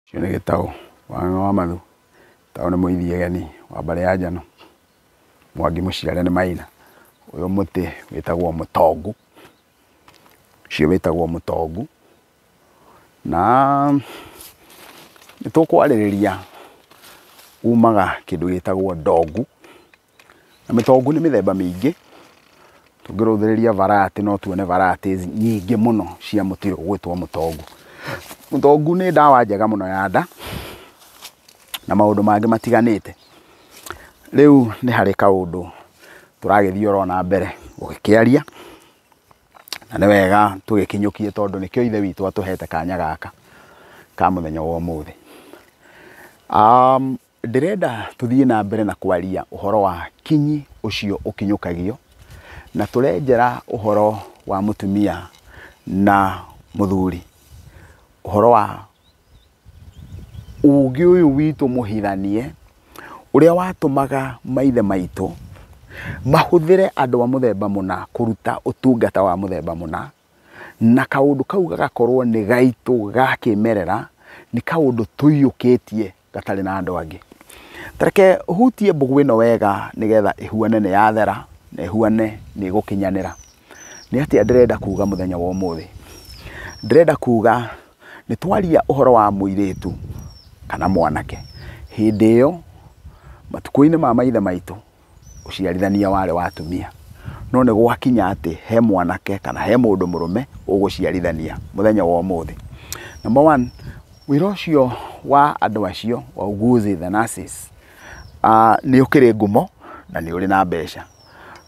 Ũcio nĩ gĩtaũ wa ng'ang'a wa mathu, gĩtaũ nĩ mũini gĩgeni wa mbarĩ ya njano, mwangi mũciare nĩ maina. Ũyũ mũtĩ wĩtagwo mũtongu, ũcio wĩtagwo mũtongu, na nĩtũkwarĩrĩria umaga kĩndũ gĩtagwo ndongu. Mĩtongũ nĩ mĩthemba mĩingĩ, tũngĩrũthĩrĩria varati no tuone varati nyingĩ mũno cia mũtĩ ũyũ ũgwĩtwo mũtongũ. Mũtongũ nĩ ndawa njega mũno ya nda, na maũndũ mangĩ matiganĩte. Rĩu nĩ harĩ kaũndũ tũragĩthiĩ oro na mbere gũgĩkĩaria, na nĩ wega tũgĩkinyũkie tondũ nĩkĩo Ithe witũ atũhete kanya gaka ka mũthenya wa ũmũthĩ. Ndĩrenda tũthiĩ na mbere na kwaria ũhoro wa kinyi ũcio ũkinyũkagio, na tũrenjera ũhoro wa mũtumia na mũthuri, ũhoro wa ũgĩ ũyũ witũ mũhithanie, ũrĩa watũmaga maithe maitũ mahũthĩre andũ a mũthemba mũna kũruta ũtungata wa mũthemba mũna, na kaũndũ kau gagakorwo nĩ gaitũ ga kĩmerera, nĩ kaũndũ tũiyũkĩtie gatarĩ na andũ angĩ. Ta reke hutie mbũgũ ĩno wega nĩgetha ĩhuane nĩ yathera na ĩhuane nĩ ĩgũkinyanĩra. Nĩ atĩa ndĩrenda kuga mũthenya wa ũmũthĩ? Ndĩrenda kuga nĩ twaria ũhoro wa mũirĩtu kana mwanake. Hĩndĩ ĩyo, matukũ-inĩ ma maithe maitũ, ũciarithania warĩ wa atumia. No nĩ gwakinya atĩ he mwanake kana he mũndũ mũrũme ũgũciarithania mũthenya wa ũmũthĩ. Number one, wĩra ũcio wa andũ acio, wauguzi, the nurses, nĩ ũkĩrĩ ngumo na nĩ ũrĩ na mbeca.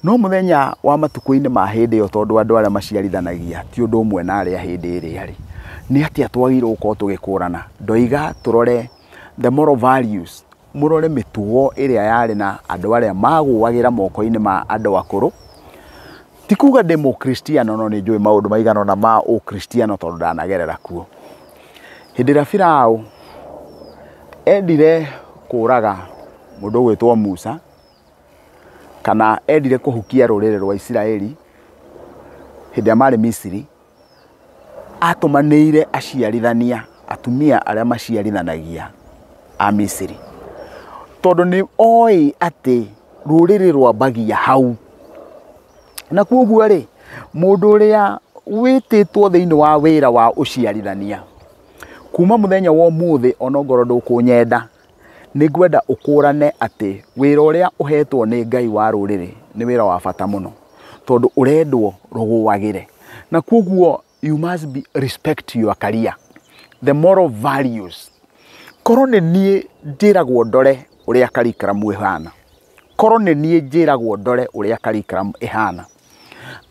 No mũthenya wa matukũ-inĩ ma hĩndĩ ĩyo tondũ andũ arĩa maciarithanagia ti ũndũ ũmwe na arĩa a hĩndĩ ĩrĩa rĩ, nĩ atĩa twagĩrĩirwo gũkorwo tũgĩkũrana? Ndoiga tũrore the moral values Mũrore mĩtugo ĩrĩa yarĩ na andũ arĩa maagũagĩra moko-inĩ ma andũ akũrũ. Ti kuuga ndĩ Mũkristiano, no nĩ njũĩ maũndũ maigana ũna ma Ũkristiano tondũ ndanagerera kuo. Hĩndĩ ĩrĩa Firaũ endire kũũraga mũndũ ũgwĩtwo Musa, kana endire kũhukia rũrĩrĩ rwa Isiraeli hĩndĩ ĩrĩa maarĩ Misiri, Aatũmanĩire aciarithania, atumia arĩa maciarithanagia a Misiri, tondũ nĩ oĩ atĩ rũrĩrĩ rwambagia hau. Na kwoguo-rĩ, mũndũ ũrĩa wĩtĩtwo thĩinĩ wa wĩra wa ũciarithania, kuma mũthenya wa ũmũthĩ o na okorwo ndũkũnyenda, Nĩ ngwenda ũkũrane atĩ wĩra ũrĩa ũhetwo nĩ Ngai wa rũrĩrĩ nĩ wĩra wa bata mũno tondũ ũrendwo rũgũagĩre. Na kwoguo you must be respect your career, the moral values. Korwo nĩ niĩ njĩragwo ndore ũrĩa curriculum ĩhana, korwo nĩ niĩ njĩragwo ndore ũrĩa curriculum ĩhana,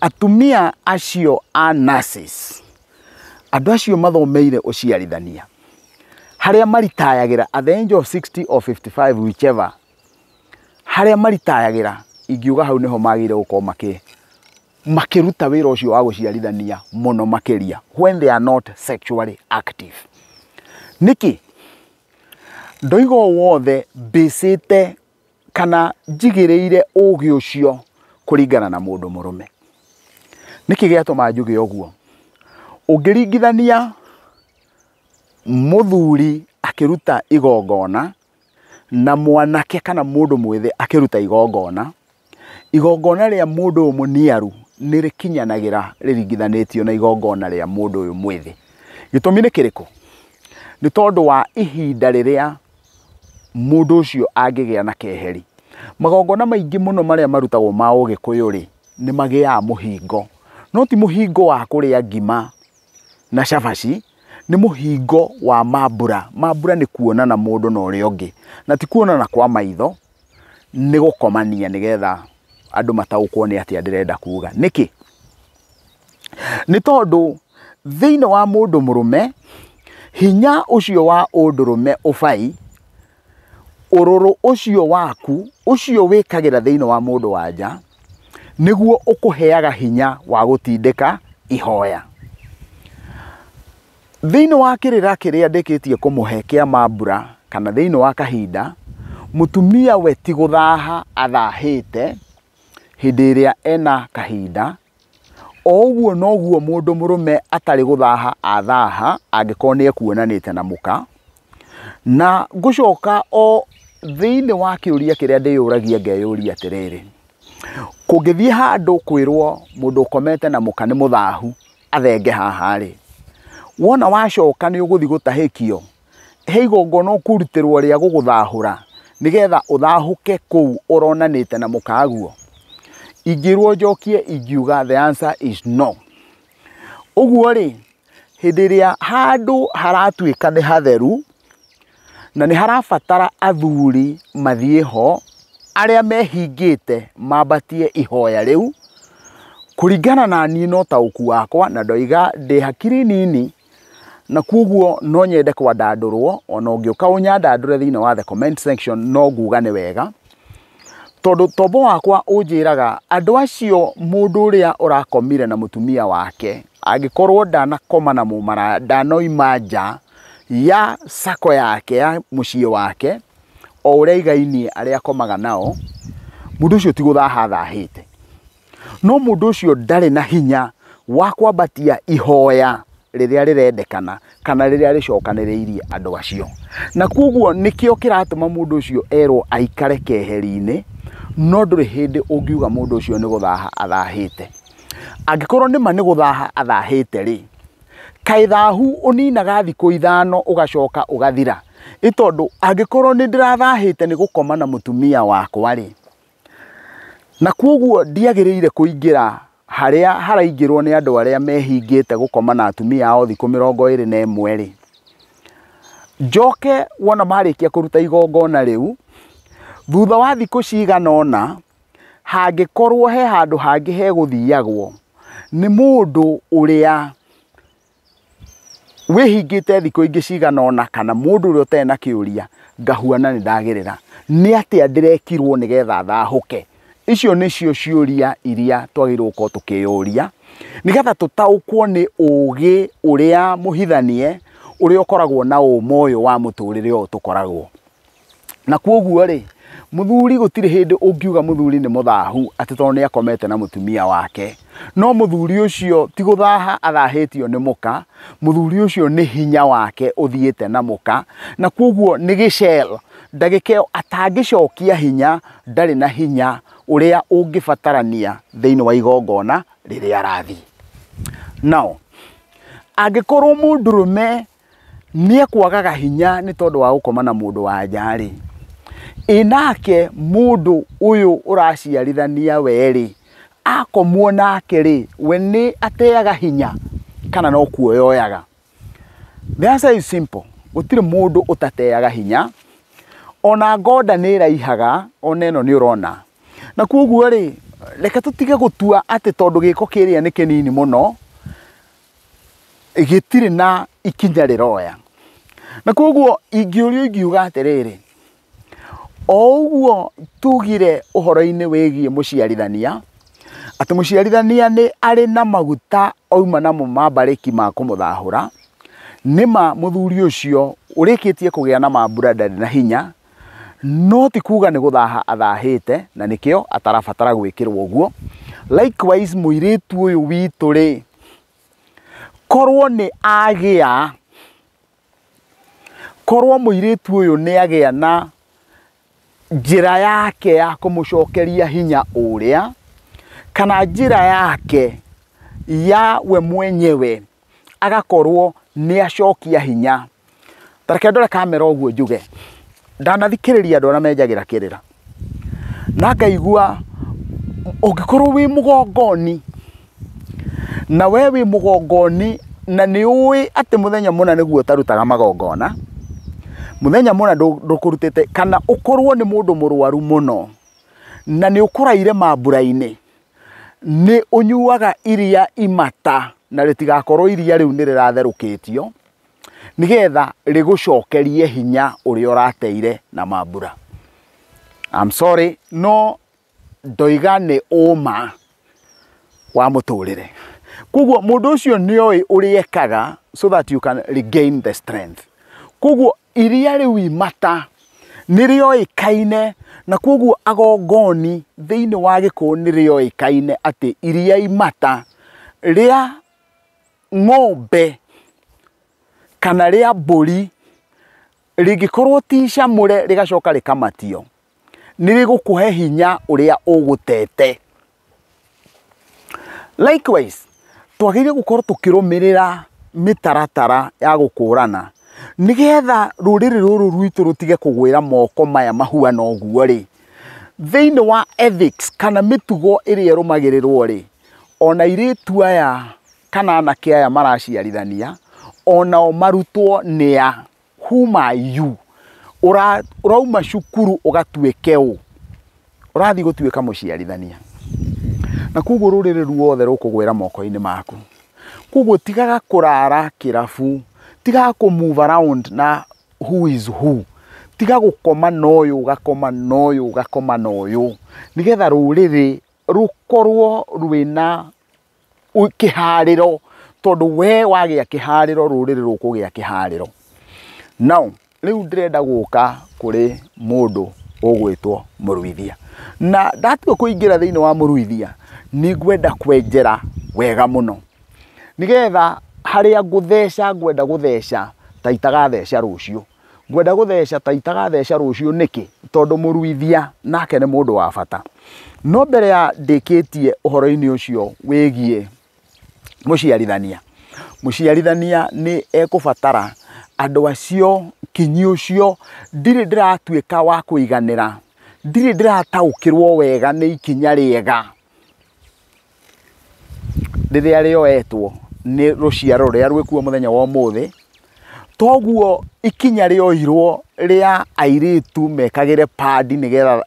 atumia acio a nurses, Andũ acio mathomeire ũciarithania harĩa maritayagĩra at the age of 60 or 55 whichever harĩa maritayagĩra ingiuga hau nĩho magĩrĩire gũkorwo makĩ makĩruta wĩra ũcio wa gũciarithania mũno makĩria when they are not sexually active nĩkĩ ndoiga o wothe mbĩcĩte kana njigĩrĩire ũũgĩ ũcio kũringana na mũndũ mũrũme. Nĩkĩ gĩatũma njuge ũguo? Ũngĩringithania mũthuri akĩruta igongona na mwanake kana mũndũ mwĩthĩ akĩruta igongona, igongona rĩa mũndũ ũyũ mũniaru nĩ rĩkinyanagĩra rĩringithanĩtio na igongona rĩa mũndũ ũyũ mwĩthĩ. Gĩtũmi nĩ kĩrĩkũ? Nĩ tondũ wa ihinda rĩrĩa mũndũ ũcio angĩgĩa na keheri. Magongona maingĩ mũno marĩa marutagwo ma ũgĩkũyũ-rĩ, nĩ magĩaga mũhingo. No ti mũhingo wa kũrĩa ngima na cabaci, nĩ mũhingo wa mambura. Mambura nĩ kuonana mũndũ na ũrĩa ũngĩ, na ti kuonana kwa maitho, nĩ gũkomania nĩgetha andũ mataũkwo nĩ atĩa ndĩrenda kuga. Nĩkĩ? Nĩ tondũ thĩinĩ wa mũndũ mũrũme, hinya ũcio wa ũndũrũme ũbai, ũrũrũ ũcio waku, ũcio wĩkagĩra thĩinĩ wa mũndũ wa nja, nĩguo ũkũheaga hinya wa gũtindĩka ihoya. Thĩinĩ wa kĩrĩra kĩrĩa ndĩkĩtie kũmũhe kĩa mambura kana thĩinĩ wa kahinda, mũtumia we ti gũthaha athahĩte hĩndĩ ĩrĩa ena kahinda, o ũguo noguo mũndũ mũrũme atarĩ gũthaha athaha angĩkorwo nĩ ekuonanĩte na mũka. Na ngũcoka o thĩinĩ wa kĩũria kĩrĩa ndĩyũragia ngeyũria atĩrĩrĩ, kũngĩthiĩ handũ kwĩrwo mũndũ ũkomete na mũka nĩ mũthahu, athenge haha rĩ, wona wacoka nĩ ũgũthiĩ gũtahĩkio, he igongona ũkũrutĩrwo rĩa gũgũthahũra nĩgetha ũthahũke kũu ũronanĩte na mũkaguo? Ingĩrwo njokie ingiuga the answer is no. Ũguo rĩ, hĩndĩ ĩrĩa handũ haratuĩka nĩ hatheru, Na nĩ harabatara athuri mathiĩ ho arĩa mehingĩte mambatie ihoya rĩu kũringana na niĩ no taũku wakwa na ndoiga ndĩ hakiri nini na kwoguo no nyende kwandandũrwo ona ũngĩũka ũnyandandũre thĩinĩ wa the comment section no nguga nĩ wega. Tondũ tombo wakwa ũnjĩraga andũ acio mũndũ ũrĩa ũrakomire na mũtumia wake angĩkorwo ndanakoma na mũmaraya ndanoima nja ya sako yake ya mũciĩ wake o ũrĩa aigainie arĩa akomaga nao, mũndũ ũcio ti gũthaha athahĩte. No mũndũ ũcio ndarĩ na hinya wa kwambatia ihoya rĩrĩa rĩrendekana kana rĩrĩa rĩcokanĩrĩirie andũ acio. Na kwoguo nĩkĩo kĩratũma mũndũ ũcio erwo aikare keheri-inĩ, no ndũrĩ hĩndĩ ũngiuga mũndũ ũcio nĩ gũthaha athahĩte. Angĩkorwo nĩ ma nĩ gũthaha athahĩte rĩ, kaĩ thahu ũninaga thikũ ithano ũgacoka ũgathira? Nĩ tondũ angĩkorwo nĩ ndĩrathahĩte nĩ gũkoma na mũtumia wakwa rĩ, Na kwoguo ndiagĩrĩire kũingĩra harĩa haraingĩrwo nĩ andũ arĩa mehingĩte gũkoma na atumia ao thikũ mĩrongo ĩrĩ na ĩmwe-rĩ, njoke wona marĩkia kũruta igongona rĩu, thutha wa thikũ cigana ũna, hangĩkorwo he handũ hangĩ hegũthiagwo nĩ mũndũ ũrĩa wĩhingĩte thikũ ingĩ cigana ũna kana mũndũ ũrĩa ũtarĩ na kĩũria ngahuana nĩ ndagerera, nĩ atĩa ndĩrekirwo nĩgetha thahũke? Icio nĩcio ciũria iria twagĩrĩirwo gũkorwo tũkĩyũria nĩgetha tũtaũkwo nĩ ũgĩ ũrĩa mũhithanie ũrĩa ũkoragwo na ũma ũyũ wa mũtũrĩre ũyũ tũkoragwo. Na kwoguo rĩ, mũthuri gũtirĩ hĩndĩ ũngiuga mũthuri nĩ mũthahu atĩ tondũ nĩ akomete na mũtumia wake. No mũthuri ũcio ti gũthaha athahĩtio nĩ mũka, mũthuri ũcio nĩ hinya wake ũthiĩte na mũka. Na kwoguo nĩ gĩcel, ndagĩka ĩyo atangĩcokia hinya ndarĩ na hinya ũrĩa ũngĩbatarania thĩinĩ wa igongona rĩrĩa arathiĩ. Now, angĩkorwo mũndũrũme nĩekwagaga hinya nĩ tondũ wa gũkoma na mũndũ wa nja-rĩ, ĩ nake mũndũ ũyũ ũraciarithania we-rĩ, akomwo nake-rĩ, we nĩ ateaga hinya kana no kuoya oyaga? The answer is simple, gũtirĩ mũndũ ũtateaga hinya, ona ngoda nĩ ĩraihaga, ona ĩno nĩ ũrona. Na koguo-rĩ, reke tũtige gũtua atĩ tondũ gĩko kĩrĩa nĩ kĩnini mũno, gĩtirĩ na ikinya rĩroya na koguo ingĩũrio ingiuga atĩrĩrĩ o ũguo tugire ũhoro-inĩ wĩgiĩ mũciarithania atĩ mũciarithania nĩ arĩ na maguta auma namo ma mbarĩki ma kũmũthahũra, nĩma mũthuri ũcio ũrĩkĩtie kũgĩa na mambura ndarĩ na hinya no ti kuga nĩ gũthaha athahĩte na nĩkĩo atarabatara gwĩkĩrwo ũguo. Likewise mũirĩtu ũyũ witũ rĩ, korwo nĩ agĩa, korwo mũirĩtu ũyũ nĩ agĩa na njĩra yake ya kũmũcokeria hinya ũrĩa, kana njĩra yake ya we mwenyewe agakorwo nĩ acokia hinya. Ta reke ndore kamera ũguo njuge, ndanathikĩrĩria andũ arĩa menjagĩra kĩrĩra, na ngaigua ũngĩkorwo wĩ mũgongoni, na we wĩ mũgongoni na nĩ ũĩ atĩ mũthenya mũna nĩguo ũtarutaga magongona, mũthenya mũna ndũkũrutĩte, kana ũkorwo nĩ mũndũ mũrwaru mũno, na nĩ ũkũraire mambura-inĩ. Nĩ ũnyuaga iria imata na rĩtigakorwo iria rĩu nĩ rĩratherũkĩtio nĩgetha rĩgũcokerie hinya ũrĩa ũrateire na mambura. I'm sorry no ndoiga nĩ ũma wa mũtũrĩre. Koguo mũndũ ũcio nĩ oĩ ũrĩa ekaga so that you can regain the strength. Koguo iria rĩu imata nĩ rĩoĩkaine na kwoguo agongoni thĩinĩ wa gĩkũyũ nĩ rĩoĩkaine atĩ iria imata rĩa ng'ombe kana rĩa mbũri rĩngĩkorwo ti icamũre rĩgacoka rĩkamatio nĩ rĩgũkũhe hinya ũrĩa ũgũtete. Likewise, twagĩrĩirwo gũkorwo tũkĩrũmĩrĩra mĩtaratara ya gũkũrana, nĩgetha rũrĩrĩ rũrũ rwitũ rũtige kũgwĩra moko maya mahuana ũguo rĩ, thĩiniĩ wa ethics kana mĩtugo ĩrĩa ĩrũmagĩrĩrwo rĩ, ona airĩtu aya kana anake aya maraciarithania, onao marutwo nĩ a. whom are you? Ũra, ũrauma cukuru ũgatuĩke ũ? Ũrathiĩ gũtuĩka mũciarithania. Na koguo rũrĩrĩ ruothe rũkũgwĩra moko-inĩ maku. Koguo tigaga kũrara kĩrabu, tigaga kũ move around na who is who. Tiga gũkoma na ũyũ, ũgakoma na ũyũ, ũgakoma na ũyũ. Nĩgetha rũrĩrĩ rũkorwo rwĩna kĩharĩro tondũ we wagĩa kĩharĩro rũrĩrĩ rũkũgĩa kĩharĩro. Now rĩu ndĩrenda gũka kũrĩ mũndũ ũgwĩtwo mũruithia. Na ndatua kũingĩra thĩinĩ wa mũruithia nĩ ngwenda kwenjera wega mũno. Nĩgetha harĩa ngũtheca ngwenda gũtheca ta itagatheca rũciũ. Ngwenda gũtheca ta itagatheca rũciũ nĩkĩ? Tondũ mũruithia nake nĩ mũndũ wa bata. No mbere ya ndĩkĩtie ũhoro-inĩ ũcio wĩgiĩ mũciarithania, mũciarithania nĩ ekũbatara andũ acio kinyi ũcio ndirĩ ndĩratuĩka wa kũiganĩra, ndirĩ ndĩrataũkĩrwo wega nĩ ikinya rĩega. rĩrĩa rĩoetwo nĩ rũciaro rũrĩa rwĩkuo mũthenya wa ũmũthĩ, toguo ikinya rĩoirwo rĩa airĩtu mekagĩre pad nĩgetha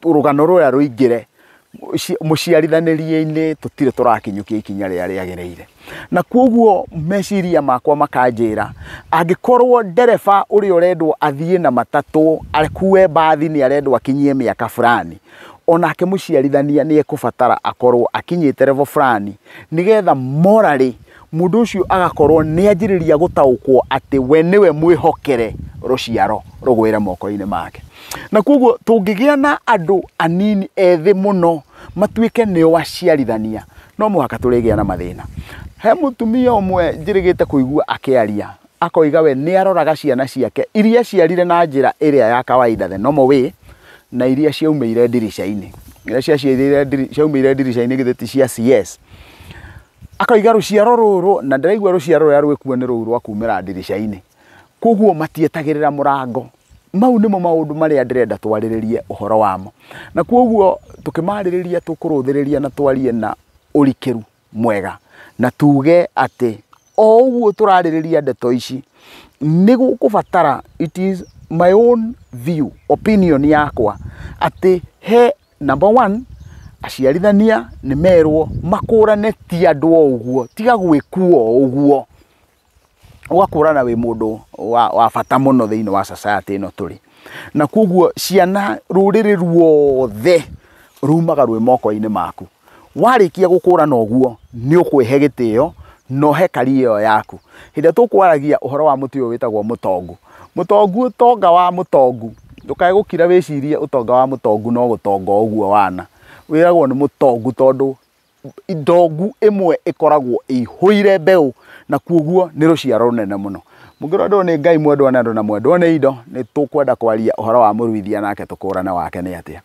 rũgano rũrĩa rũingĩre mũciarithanĩrie-inĩ tũtirĩ tũrakinyũkia ikinya rĩrĩa rĩagĩrĩire. na kwoguo meciria makwa makanjĩra angĩkorwo ndereba ũrĩa ũrendwo athiĩ na matatũ akue mbathi nĩ arendwo akinyie mĩaka fulani onake mũciarithania nĩ ekũbatara akorwo akinyĩte level fulani nĩgetha morally mũndũ ũcio agakorwo nĩ anjĩrĩria gũtaũkwo atĩ we nĩwe mwĩhokere rũciaro rũgwĩre moko-inĩ make na kwoguo tũngĩgĩa na andũ anini ethĩ mũno matuĩke nĩo aciarithania no mũhaka tũrĩgĩa na mathĩna. He mũtumia ũmwe njĩrĩgĩte kũigua akĩaria akoiga we nĩ aroraga ciana ciake iria aciarire na njĩra ĩrĩa ya kawaida the normal way na iria ciaumĩire ndirica-inĩ. Iria ciaumĩire ndirica-inĩ githĩ ti cia CS? Akoiga rũciaro rũrũ na ndĩraigua rũciaro rũrĩa rwĩkuo nĩ rũu rwa kuumĩra ndirica-inĩ. Kwoguo matietagĩrĩra mũrango. mau nĩmo maũndũ marĩa ndĩrenda twarĩrĩrie ũhoro wamo na kwoguo tũkĩmarĩrĩria tũkũrũthĩrĩria na twarie na ũrikĩru mwega na tuge atĩ o ũguo tũrarĩrĩria ndeto ici nĩ gũkũbatara it is my own view opinion yakwa atĩ he number one aciarithania nĩ merwo makũrane ti andũ o ũguo tiga gwĩkuo o ũguo ũgakũrana wĩ mũndũ wa bata mũno thĩinĩ wa society ĩno tũrĩ. Na kwoguo ciana rũrĩrĩ ruothe rumaga rwĩ moko-inĩ maku. Warĩkia gũkũrana ũguo nĩ ũkwĩhe gĩtĩo na ũhe career ĩyo yaku. Hĩndĩ ĩrĩa tũkwaragia ũhoro wa mũtĩ ũyũ wĩtagwo mũtongu, mũtongu ũtonga wa mũtongu, ndũkae gũkira wĩcirie ũtonga wa mũtongu no gũtonga o ũguo wana. Wĩragwo nĩ mũtongu tondũ ndongu ĩmwe ĩkoragwo ĩihũire mbeũ na kuoguo nĩ rũciaro rũnene mũno. Mũngĩrwo andũ nĩ Ngai mwendwo nĩ andũ na mwendwo nĩ indo, nĩ tũkwenda kwaria ũhoro wa mũruithia nake tũkũrane wake nĩ atĩa.